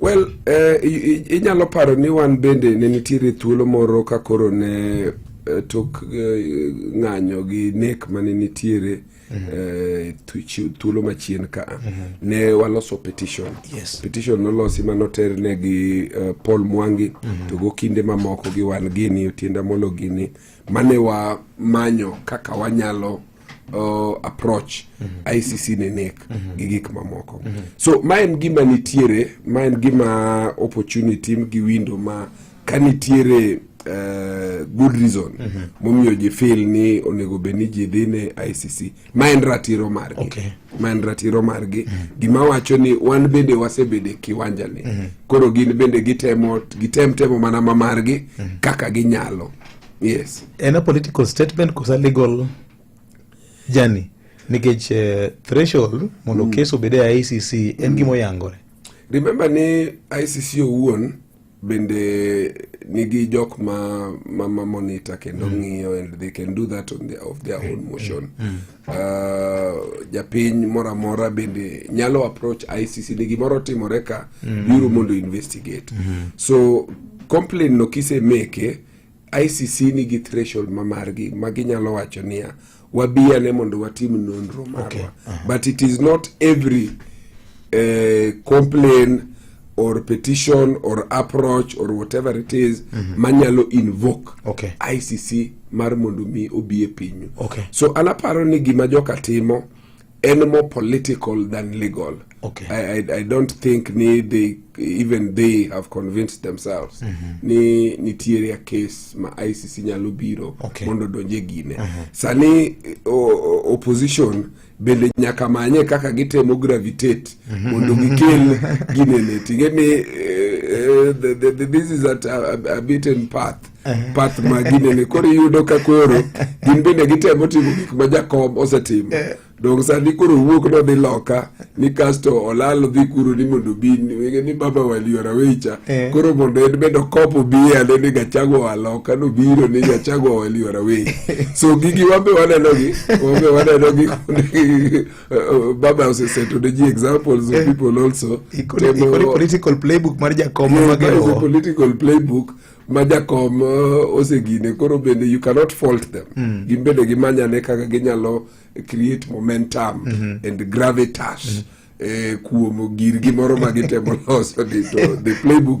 Well, eh, i- i- inyalo paro ni wan bende ne nitiere thuolo moro ka koro ne eh, tok eh, ng'anyo gi nek mane nitiere eh, thu- chi- thuolo machien ka ne waloso petition Yes. petition nolosi manoter ne gi eh, Paul Mwangi to go kinde mamoko gi wan gini Otienda Molo gini mane wamanyo kaka wanyalo uh, approach mm -hmm. ICC ne nek mm -hmm. gi gik mamoko mm -hmm. so ma en gima nitiere ma en gima opportunity gi window ma ka nitiere uh, good reason mm -hmm. momiyo ji fil ni onego bed ni ji dhi ne ICC ma en ratiro margi okay. ma en ratiro margi mm -hmm. gima wacho ni wan bende wasebede kiwanja ni mm -hmm. koro gin bende gitem temo mana ma margi mm -hmm. kaka ginyalo yes en a political statement kosa legal journey nikech uh, threshold mondo mm. kes obed e icc en mm. gima oyangore remember ni icc owuon bende nigi jok ma ma, ma monitor kendo mm. ng'iyo and they can do that on the, of their own mm. motion mm. mm. uh, japiny moro amora bende nyalo approach icc ni gimoro timore ka mm. biro mondo investigate mm -hmm. so complain no kisemeke ICC nigi threshold ma margi ma ginyalo wacho niya wabi ane mondo watim nonro marwa okay. uh -huh. but it is not every uh, complain or petition or approach or whatever it is mm -hmm. manyalo invoke okay. ICC mar mondo mi obi e pinyu okay. so anaparo ni gima joka timo any more political than legal. Okay. I, I, I don't think ni they, even they have convinced themselves mm -hmm. ni nitiere a case ma ICC nyalo biro okay. mondo donje gine mm -hmm. sani o, opposition bende nyaka manye kaka gitemo gravitate mhm. mondo gikel ginene ting'e ni uh, the, the, the, this is at a, a, a beaten path path ma ginene koro iyudo ka koro gin bende gitemo timo gik ma jakob osetimo eh. dong sani koro wuok nodhi loka ni kasto olal odhi kuro ni mondo obi ni baba waliora wecha eh. koro mondo en bende okopo biye ane ni gachago oa loka nobiro ni gachago oa waliora weyi so gigi wambe wanenogi wambe wanenogi eh, baba oseseto ne ji examples of people also political playbook mar jakom political playbook majakom uh, osegine koro bende you cannot fault them mm. gin bende gimanyane kaka ginyalo create momentum mm -hmm. and gravitas mm -hmm. eh, kuom girgi moro ma gitemo loso ni to the playbook